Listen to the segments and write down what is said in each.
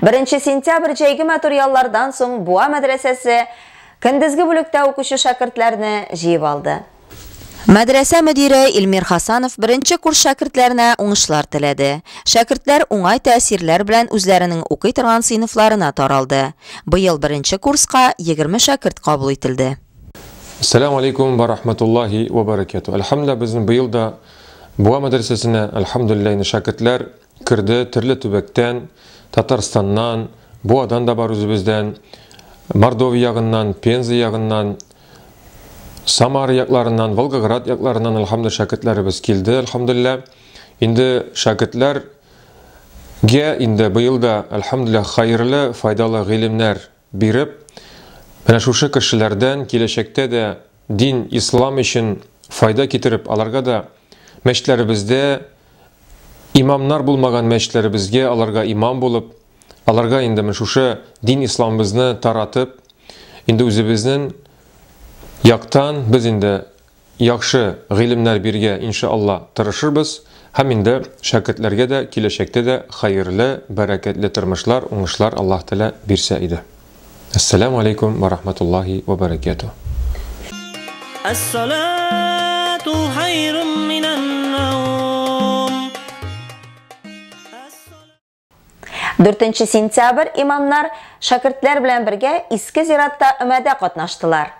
Беренче сентябрь җәйге матур яллардан соң Буа мәдрәсәсе көндезге бүлектә укучы шәкертләрне җыеп алды. Мәдрәсә мөдире Илмир Хасанов беренче курс шәкертләренә уңышлар теләде. Шәкертләр уңай тәэсирләр белән үзләренең укый торган сыйныфларына таралды. Быел беренче курска 20 шәкерт кабул ителде. Сәлам алейкум ва рахматуллахи ва баракату. Әлхәмдүлилла, безнең быел да Буа мәдрәсәсенә, әлхәмдүлилла, инде шәкертләр Керде төрле төбәктән, Татарстаннан, Буадан да бар үзебездән, Мордовия ягыннан, Пенза ягыннан, Самара якларыннан, Волгоград якларыннан, альхамдулилла, шәкертләребез килде, альхамдулилла. Инде шәкертләр Гә инде быел да, әлхәмдүлилләһ, хәерле, файдалы гыйлемнәр биреп, менә шушы кешеләрдән киләчәктә дә дин, ислам өчен файда китереп, аларга да мәчетләребездә имамнар булмаган мәчетләребезгә аларга имам булып, аларга инде менә шушы дин исламыбызны таратып, инде үзебезнең яктан без инде яхшы гыйлемнәр биргә иншалла тырышырбыз һәм инде шәкертләргә дә киләчәктә дә хәерле, бәрәкәтле тормышлар, уңышлар Аллаһ Тәгалә бирсә иде. Ассаляму алейкум ва рахматуллахи ва баракяту. Ассалату хайрум минан наум. Дүртенче сентябрь имамнар шәкертләр белән бергә Иске зиратта өмәдә катнаштылар.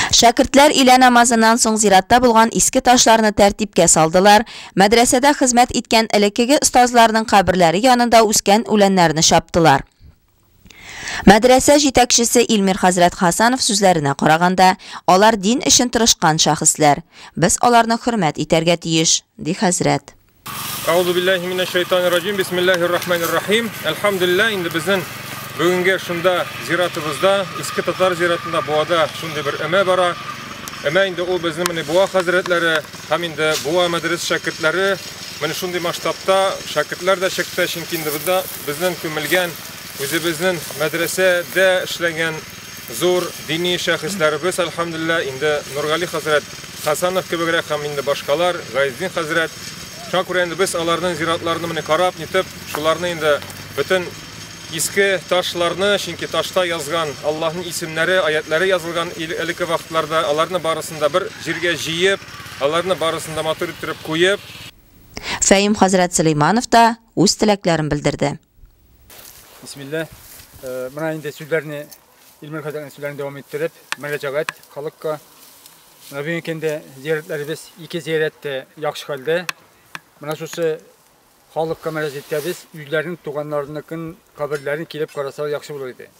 Шәкертләр илә намазыннан соң зиратта булган иске ташларны тәртипкә салдылар, мәдрәсәдә хезмәт иткән элеккеге остазларның каберләре янында үскән үләннәрне чаптылар. Мәдрәсә җитәкчесе Илмир хәзрәт Хәсәнов сүзләренә караганда, алар дин өчен тырышкан шәхесләр. Без аларны хөрмәт итәргә тиеш, ди хәзрәт. Әгъузубилләһи минәш-шәйтанир-раҗим, бисмиллаһир-рахманир-рахим. Әлхәмдүлилләһ, инде безнен бүгенге шунда зиратыбызда, Иске Татар зиратында Буада шундый бер өмә бара. Өмә инде ул безнең менә Буа хәзрәтләре һәм инде Буа мәдрәс шәкертләре. Менә шундый масштабта шәкертләр дә чыкты, чөнки инде бында Безнең күмелгән, үзебезнең мәдрәсәдә эшләгән зур дини шәхесләребез, әлхәмдулилла, инде Нургали хәзрәт Хасанов кебегрәк һәм инде башкалар, Гайзетдин хәзрәт. Шуңа күрә инде без аларның зиратларына менеп карап, нитеп, шуларны инде бөтен иске ташларны, чөнки ташта язган Аллаһның исемнәре, аятьләре язылган элекке вакытларда, аларны барысын да бер җиргә җыеп, аларны барысын да матур иттереп куеп, Фәим хәзрәт Сөләйманов та, үз теләкләрен белдерде. Бисмилла. Менә инде сүзләрне Илмир хәзрәтнең сүзләрен дәвам иттереп, мөрәҗәгать халыкка. Менә бүген инде зияратларыбыз ике зиярат та яхшы хәлдә. Менә шушы халыкка мөрәҗәгатьтә без үзләренең туганнарыныкын каберләрен килеп карасалар яхшы булыр иде.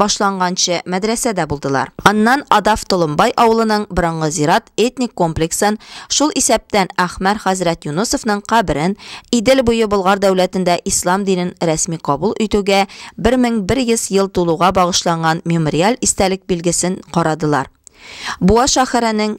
башланганчы мәдрәсәдә булдылар. Аннан Адав Толымбай авылының борынгы зират этник комплексын, шул исәптән Әхмәр хәзрәт Юнысовның каберен, Идел буе Болгар дәүләтендә ислам динен рәсми кабул итүгә 1100 ел тулуга багышланган мемориаль истәлек билгесен карадылар. Буа шәһәренең.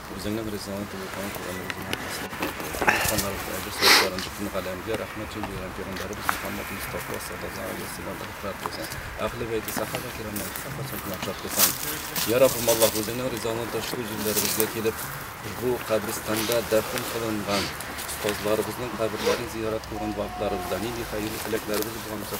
Үзеңнең ризалыгың түгел калган Коръәнне үзеңә хәзер кайтыр. Ханнарыбыз әйбәт сәләтләрен бөтен галәмгә рәхмәт җил җыйган пәйгамбәребез Мөхәммәд Мостафа саллаллаһу алейһи ва сәлләм рәхмәт булсын. Әһле бәйте, сахаба кирамны һәр кайчан гына яхшыртып куйсаң. Йә Раббым Аллаһ, үзеңнең ризалыгың ташуы җирләребезгә килеп, бу каберстанда дәфен кылынган остазларыбызның каберләрен зиярәт кылган вакытларыбызда нинди хәерле теләкләребез булган икән,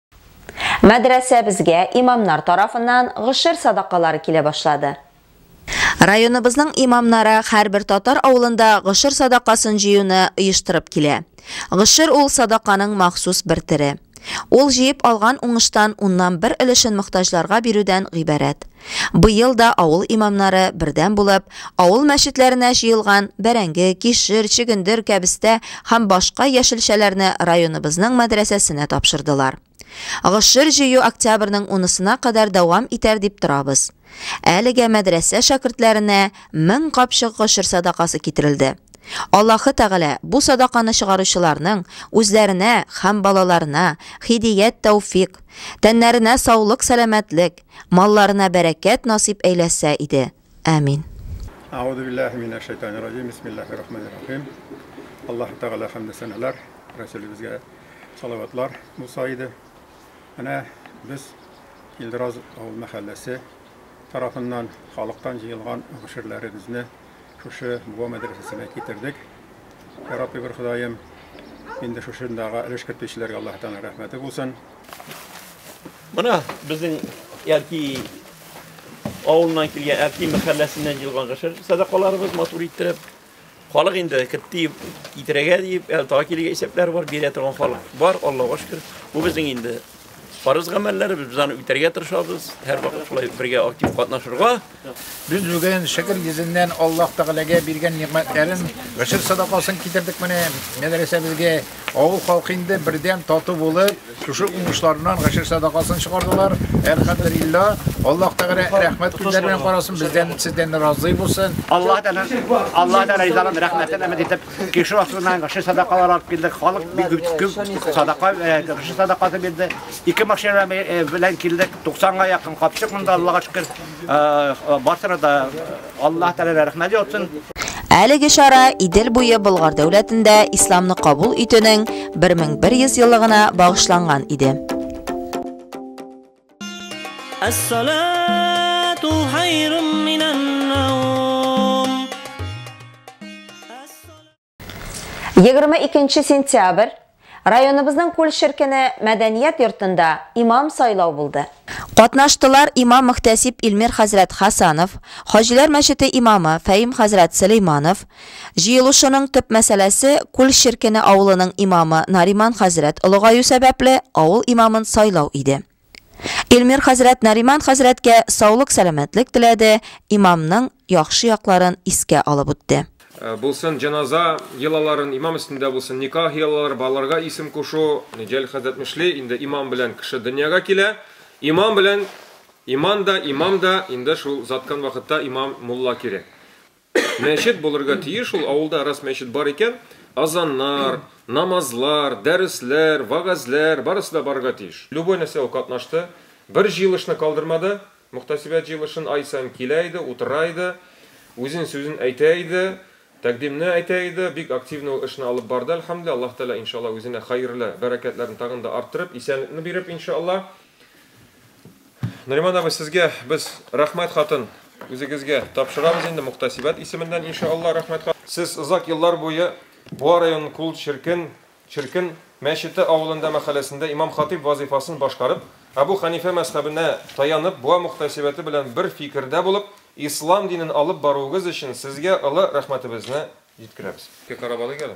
Мәдрәсәбезгә имамнар тарафыннан гошер садакалары килә башлады. Районыбызның имамнары һәрбер татар авылында гошер садакасын җыюны оештырып килә. Гошер ул садаканың махсус бер төре. Ул җыеп алган уңыштан уннан бер өлешен мохтаҗларга бирүдән гыйбарәт. Быел да авыл имамнары бердәм булып, авыл мәчетләренә җыелган бәрәңге, кишер, чөгендер, кәбестә һәм башка яшелчәләрне районыбызның мәдрәсәсенә тапшырдылар. Гошер җыю октябрьнең унысына кадәр дәвам итәр дип торабыз. Әлегә мәдрәсә шәкертләренә мең капчык гошер садакасы китерелде. Аллаһы Тәгалә бу садаканы чыгаручыларның үзләренә һәм балаларына һидият-тәүфикъ, тәннәренә саулык-сәламәтлек, Малларына бәрәкәт насыйп әйләсә иде. Амин. Аузу биллахи минәш шәйтанир раҗим. Бисмиллахир рахманир рахим. Аллаһу тәгалә хәмде сәнәләр, Рәсүлебезгә салаватлар булса иде. Менә без Илдраз авыл мәхәлләсе тарафыннан халыктан җыелган гаширләребезне шушы Буа мәдрәсәсенә китердек. Ярабби бер Ходаем, инде шушындагы өлеш кертүчеләргә Аллаһу тәгалә рәхмәте булсын. Менә безнең Әлки авылыннан килгән Әлки мәхәлләсеннән җыелган гашер садакаларыбыз матур иттереп. Халык инде китте китерәгә дип, әле тагы килергә исәпләр бар, бирә торган халык бар, Аллаһуга шөкер. Бу безнең инде фарыз гамәлләребез, без аны үтәргә тырышабыз, һәрвакыт шулай бергә актив катнашырга. Без бүген Шөкер йөзеннән Аллаһ Тәгаләгә биргән нигъмәтләрен, гошер садакасын китердек менә мәдрәсәбезгә. Авыл халкы инде бердәм, тату булып, шушы уңышларыннан гошер садакасын чыгардылар. Әлхәмдүлиллаһ, Аллаһ Тәгалә рәхмәт күзләре белән карасын, бездән, сездән разый булсын. Аллаһ Тәгалә, Аллаһ Тәгалә ризалыгын, рәхмәтен өмет итеп, кишер астыннан гошер садакалар алып килдек. Халык бик күп, күп садака, э, гошер садакасы бирде. Ике машина белән килдек, 90 га якын капчык монда, Аллага шөкер. Барсына да Аллаһ Тәгалә рәхмәт яусын. Әлеге чара Идел буе Болгар дәүләтендә исламны кабул итүнең 1100 еллыгына багышланган иде. Әссалату хайрум минән наум. 22 сентябрь районыбызның Күл Шеркене мәдәният йортында имам сайлау булды. Катнаштылар имам-мөхтәсиб Илмир хәзрәт Хәсанов, Хаҗиләр мәчете имамы Фәим хәзрәт Сөләйманов. Җыелышының төп мәсьәләсе, Күл Шеркене авылының имамы Нариман хәзрәт олыгаю сәбәпле, авыл имамын сайлау иде. Илмир хәзрәт Нариман хәзрәткә саулык-сәламәтлек теләде, имамның яхшы якларын искә алып үтте. Булсын җеназа йолаларын, имам өстендә булсын никах йолалары, балаларга исем кушу. Җәлил хәзрәт Мөшли, инде имам белән кеше дөньяга килә. Имам белән иман да, имам да, инде шул заткан вакытта имам, мулла кире. Мәчет булырга тиеш, ул авылда раз мәчет бар икән, азаннар, намазлар, дәресләр, вагазләр, барысы да барырга тиеш. Любой нәрсә ул катнашты, бер җыелышны калдырмады, мөхтәсибәт җыелышын ай саен килә иде, утыра иде, үзен сүзен әйтә иде, тәкъдимне әйтә иде, бик активно ул эшне алып барды, әлхәмдүлилләһ, Аллаһ Тәгалә иншаллаһ үзенә хәерле бәрәкәтләрен тагын да арттырып, исәнлекне биреп иншаллаһ. Нариман абый, сезгә без рәхмәт хатын үзегезгә тапшырабыз инде Мухтасибәт исеменнән иншаалла рәхмәт хат. Сез озак еллар буе Буа районын Кул Черкен, Черкен, мәчете авылында мәхәләсендә имам-хатыйб вазыйфасын башкарып, Әбу Хәнифә мәзхәбенә таянып Буа Мухтасибәте белән бер фикердә булып Ислам динен алып баруыгыз өчен сезгә олы рәхмәтебезне җиткерәбез. Карап алыйк әле.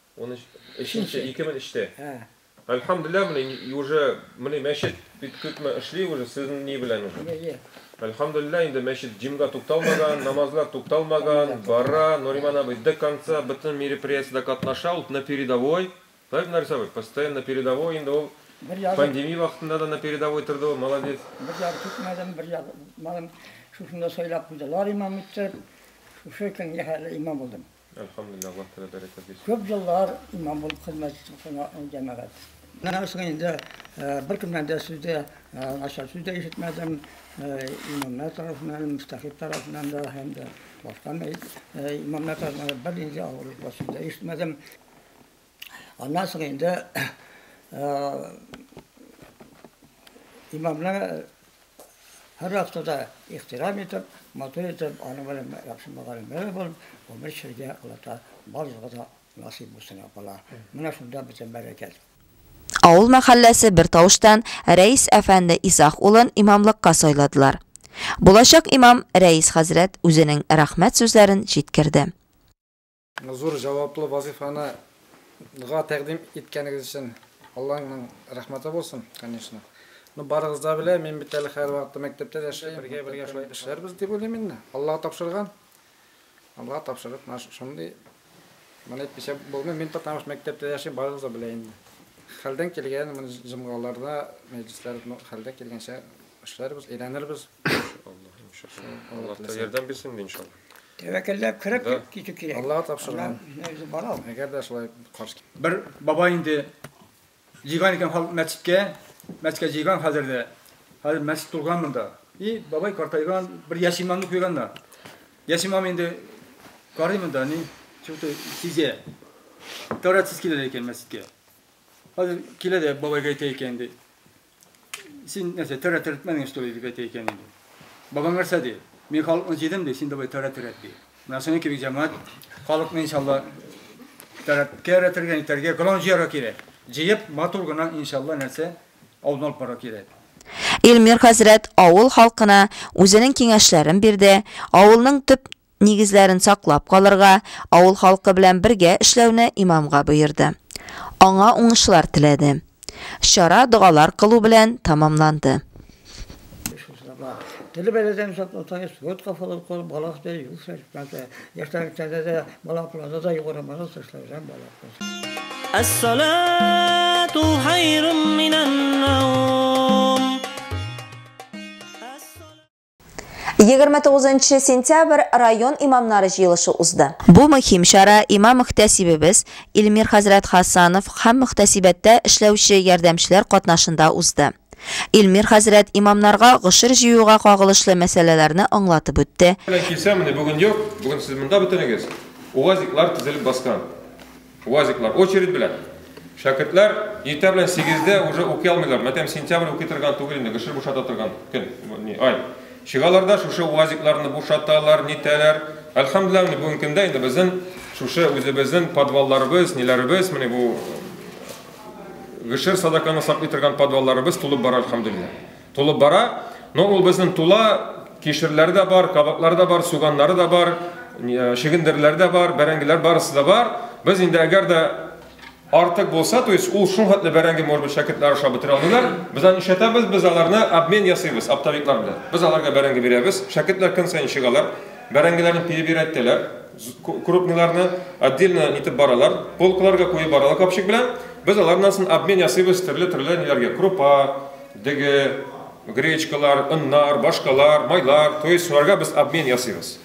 Унөч өченче, ике мең өчтә. Ә. Әлхәмдүлилләһ, менә и уже менә мәчет бит көтмә эшли уже сезнең ни белән уже. Йә, йә. Әлхәмдүлилләһ, инде мәчет җимга тукталмаган, намазлар тукталмаган, бара, Нуриман абый до конца бөтен мероприятиедә катнаша, ул на передовой, правильно, Нарис абый, постоянно на передовой, инде ул Бер ягы, пандемия вакытында да на передовой торды ул, молодец. бер ягы көтмәдем, бер ягы кытмадым. Шушында сайлап куйдылар имам иттереп, шушы көнгә хәерле имам булдым. Әлхәмдуллилләһ, Аллаһ Тәгалә бәрәкәт бирсен. Күп еллар имам булып хезмәт иттем шуңа җәмәгать. Моннан соң инде беркемнән дә сүз дә, начар сүз дә ишетмәдем. Имамнар тарафыннан, мөфтәхип тарафыннан да һәм дә башка имамнар тарафыннан да бернинди авырлыклы сүз дә ишетмәдем. Аннан соң инде имамны һәр вакытта ихтирам итеп, матур итеп, аны белән яхшы мөгаллимләр булып, гомер чиргә Аллаһта барлыгы да насыйп булсын апала. Менә шунда бөтен бәрәкәт. Авыл мәхәлләсе бер тавыштан Рәис әфәнде Исах улын имамлыкка сайладылар. Булачак имам Рәис хәзрәт үзенең рәхмәт сүзләрен җиткерде. Зур җаваплы вазыйфаны га тәкъдим иткәнегез өчен Алланың рәхмәте булсын, конечно. Ну, барыгыз да белә, мин бит әле һәрвакыт мәктәптә яшим, бергә-бергә шулай эшләрбез дип уйлыйм инде. Алла тапшырган. Алла тапшырып, менә шундый. Моны әйтмичә булмый, мин потому что мәктәптә яшим, барыгыз да белә инде. Хәлдән килгән моны җомгаларда, мәҗлесләр хәлдә килгәнчә эшләрбез, өйрәнербез. Аллаһ ярдәм бирсен иншалла. Тәвәкәлләп кереп китү кирәк. Аллага тапшырган. Әгәр дә шулай каршы. Бер баба инде җыйган икән халык мәчеткә, мәчеткә җыйган хәзер дә. Хәзер мәчет тулган монда. И бабай картайган, бер яшь имамны куйганнар. Яшь имам инде карый монда, ни, чуты сизә. Тәүратсыз килә икән мәчеткә. Хәзер килә дә бабайга әйтә икән инде. Син нәрсә, төрә төрәтмәдең, что ли, дип әйтә икән инде. Бабаң нәрсә ди? Мин халыкны җыйдым ди, син давай төрә төрәт ди. Менә шуның кебек җәмәгать халыкны иншалла төрәткә өйрәтергә, итәргә, гран җыярга кирәк. Җыеп, матур гына иншалла нәрсә алдына алып барырга кирәк. Илмир хәзрәт авыл халкына үзенең киңәшләрен бирде, авылның төп нигезләрен саклап калырга, авыл халкы белән бергә эшләүне имамга боерды. Аңа уңышлар теләде. Чара догалар кылу белән тәмамланды. Теле бәләдән сакласа, спорт кафалар корып, баласы да юл сәләтмәсе, яшьтән китәдә дә, балакларда да югары манас эшләүдән балаклар. Әс-салату хайрум минән-наум. 29 нчы сентябрь район имамнары җыелышы узды. Бу мөһим чара имам-мөхтәсибебез Илмир хәзрәт Хасанов һәм мөхтәсибәттә эшләүче ярдәмчеләр катнашында узды. Илмир хәзрәт имамнарга гошер җыюга кагылышлы мәсьәләләрне аңлатып үтте. Белән килсәм, менә бүген юк, бүген сез монда бөтенегез, уазиклар тезелеп баскан. Уазиклар очередь белән. Шәкертләр иртә белән сигездә уже укый алмыйлар. Мәтәм сентябрь укый торган түгел инде, гшр бушата торган көн, ни, ай. Чыгалар да шушы уазикларны бушаталар, нитәләр. Әлхәмдүлилләһ, менә бүгенге көндә инде безнең шушы үзебезнең подвалларыбыз, ниләребез, менә бу гшр садаканы саклый торган подвалларыбыз тулып бара, әлхәмдүлилләһ. Тулып бара, но ул безнең тула, кишерләре дә бар, кабаклары да бар, суганнары да бар, чегендерләре дә бар, бәрәңгеләр барысы да бар. Без инде әгәр дә артык булса, то есть ул шул хәтле бәрәңге, может быть, шәкертләр ашап бетерә алмыйлар. Без аны ишәтәбез, без аларны обмен ясыйбыз оптовиклар белән. Без аларга бәрәңге бирәбез. Шәкертләр көн саен чыгалар, бәрәңгеләрне перебирәтәләр, крупниларны отдельно итеп баралар, полкаларга куеп баралар капчык белән. Без алардан сон обмен ясыйбыз төрле-төрле ниләргә, крупа, Дөге, гречкалар, оннар, башкалар, майлар, то есть шуларга без обмен ясыйбыз.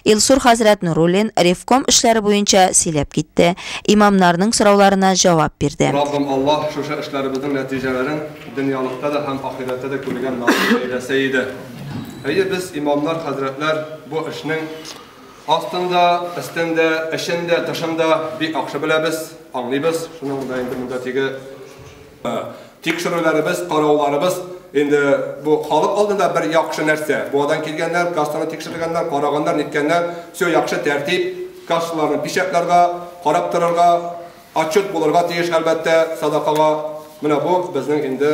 Илсур хәзрәт Нуруллин ревком эшләре буенча сөйләп китте, имамнарның сорауларына җавап бирде. Раббым Аллаһ шушы эшләребезнең нәтиҗәләрен дөньялыкта да һәм ахирәттә дә күрергә насыйп әйләсә иде. Әйе, без, имамнар, хәзрәтләр, бу эшнең астын да, өстен дә, эчен дә, тышын да бик яхшы беләбез, аңлыйбыз, шуның да инде монда тиге. Тикшерүләребез, карауларыбыз инде бу халык алдында бер яхшы нәрсә. Буадан килгәннәр, кассаны тикшергәннәр, караганнар, ниткәннәр, все яхшы тәртип, кассаларны печатларга, карап торырга, отчет булырга тиеш, әлбәттә, садакага. Менә бу безнең инде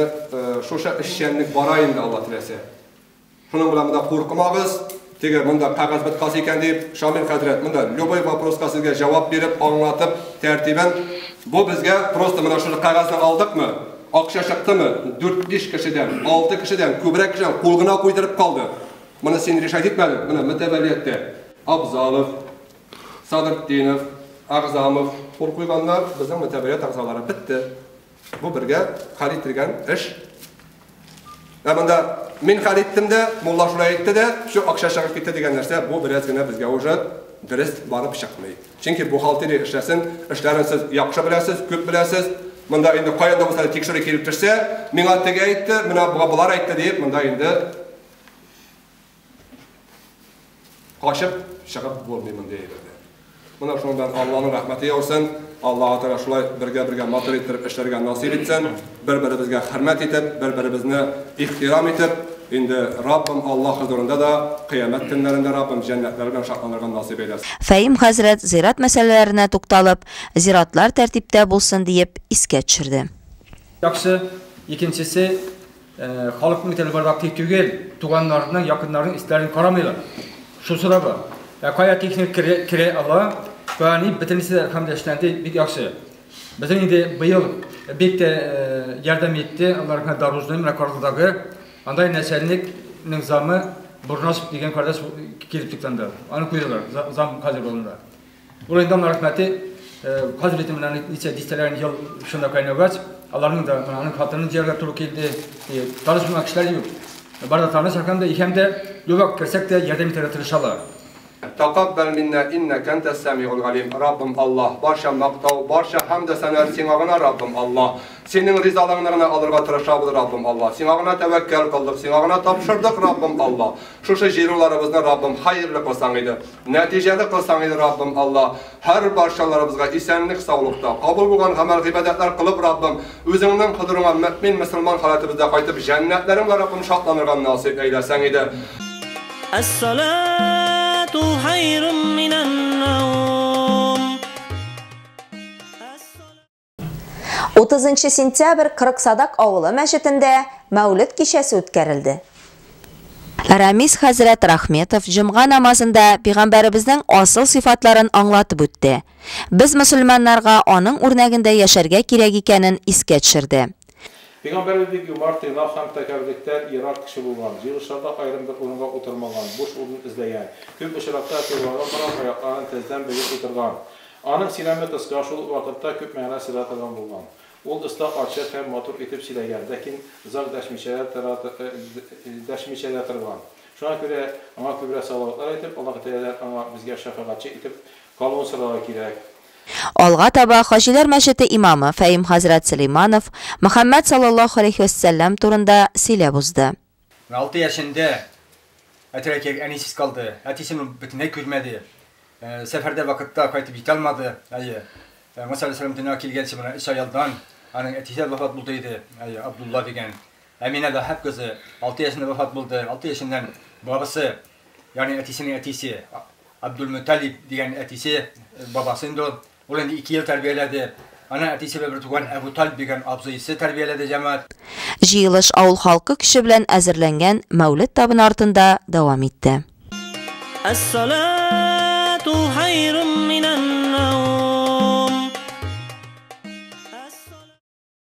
шушы эшчәнлек бара инде, Алла теләсә. Шуның белән монда куркмагыз, теге монда кәгазь быткасы икән дип, Шамил хәзрәт монда любой вопроска сезгә җавап биреп, аңлатып, тәртибен. Бу безгә просто менә шуны кәгазьне алдыкмы, акча чыктымы, 4-5 кешедән, 6 кешедән, күбрәк кешедән кул гына куйдырып калды. Моны син решать итмәдең, менә мөтәвәлияттә Абзалов, Садыртдинов, Әгъзамов кул куйганнар, безнең мөтәвәлият әгъзалары бетте. Бу бергә хәл ителгән эш. Ә монда мин хәл иттем дә, мулла шулай әйтте дә, все акча чыгып китте дигән нәрсә, бу бераз генә безгә уже дөрес барып чыкмый. Чөнки бухгалтерия эшләсен, эшләрен сез яхшы беләсез, күп беләсез. Монда инде каян да булса тикшерү килеп төшсә, миңа теге әйтте, менә болар әйтте диеп, монда инде Качып чыгып булмый мондый әйбердән. Менә шуның белән Алланың рәхмәте яусын. Аллаһу Тәгалә шулай бергә-бергә матур иттереп эшләргә насыйп итсен. Бер-беребезгә хөрмәт итеп, бер-беребезне ихтирам итеп, инде Раббым Аллаһ хозурында да, кыямәт көннәрендә Раббым җәннәтләре белән шатланырга насыйп әйләсен. Фәим хәзрәт зират мәсьәләләренә тукталып, зиратлар тәртиптә булсын диеп искә төшерде. Яхшы, икенчесе, Халыкның теле бары актив түгел, туганнарының, якыннарының истәләрен карамыйлар. Шусы да бар. Ә кая техник кере, кере ала, кая ни, бөтенесе дә хәмдә эшләнде, бик яхшы. Безнең инде быел бик тә ярдәм итте, алар һәм дорожный, менә Карлыдагы, анда нәсәлникның замы Бурнасов дигән кардәш килеп туктанды. Аны куйдылар, зам хәзер булында. Урайдан рәхмәте хәзер итем менә ничә дистәләрен ел шунда кайнаугач, аларның да менә аның хатынын дияргә туры килде. Танышмаган кешеләр юк. Бар да таныш һәм дә һәм дә югак керсәк тә ярдәм итәргә тырышалар. Тәкаббәл миннә иннәкә әнтәс сәмигул галим, Раббым Аллаһ, барча мактау, барча хәмд сәнаәт Сиңа гына, Раббым Аллаһ. Синең ризалыгыңны гына алырга тырышабыз, Раббым Аллаһ. Сиңа гына тәвәккәл кылдык, Сиңа гына тапшырдык, Раббым Аллаһ. Шушы җыенуларыбызны, Раббым, хәерле кылсаң иде. Нәтиҗәле кылсаң иде, Раббым, Алла, һәр барчаларыбызга исәнлек, саулыкта, кабул булган гамәл-гыйбадәтләр кылып, Раббым, Үзеңнең хозурыңа мөэмин мөселман халәтебездә кайтып, җәннәтләрең белән, Раббым, шатланырга насыйп әйләсәң иде. Әс-салату хайрун минән-наум. 30 сентябрь Кырыксадак авылы мәчетендә Мәүлет кичәсе үткәрелде. Рамис хәзрәт Рахметов җомга намазында пигамбәребезнең асыл сыйфатларын аңлатып үтте. Без мөселманнарга аның үрнәгендә яшәргә кирәк икәнен искә төшерде. Пигамбәребез бик юмарт, тыйнак һәм тәкәбберлектән ерак кеше булган. Җыелышларда аерым бер урынга утырмаган, буш урын эзләгән. Күп очракта, кыйблага карап, аякларын тездән бөгеп утырган. Аның сөйләме кыска, шул ук вакытта күп мәгънә сыйдыра торган булган. Ул оста, ачык һәм матур итеп сөйләгән, ләкин зак дәшмичә дәшмичә дә торган. Шуңа күрә аңа күбрәк салаватлар әйтеп, Аллаһы Тәгаләдән аңа, безгә шәфәгатьче итеп калуын сорарга кирәк. Алга таба Хаҗиләр мәчете имамы Фәим хәзрәт Сөләйманов Мөхәммәд саллаллаһу галәйһи вә сәлләм турында сөйләп узды. Уналты яшендә әтирә кияргә әнисез калды. Әтисен ул бөтенләй күрмәде. Сәфәрдә вакытта кайтып җитә алмады. Әйе. Муса алейһиссәлам дөньяга килгәнче моннан өч ай алдан аның әтисе вафат булды иде. Әйе, Абдулла дигән. Әминә Ваһаб кызы алты яшендә вафат булды. Алты яшеннән бабасы, ягъни әтисенең әтисе, Абдулмөталиб дигән әтисе, бабасы инде ул, Ул инде ике ел тәрбияләде. Аны әтисе белән бертуган Әбуталип дигән абзыйсы тәрбияләде, җәмәгать. Җыелыш авыл халкы көче белән әзерләнгән Мәүлет табыны артында дәвам итте. Әс-салату хайрун минән-наум.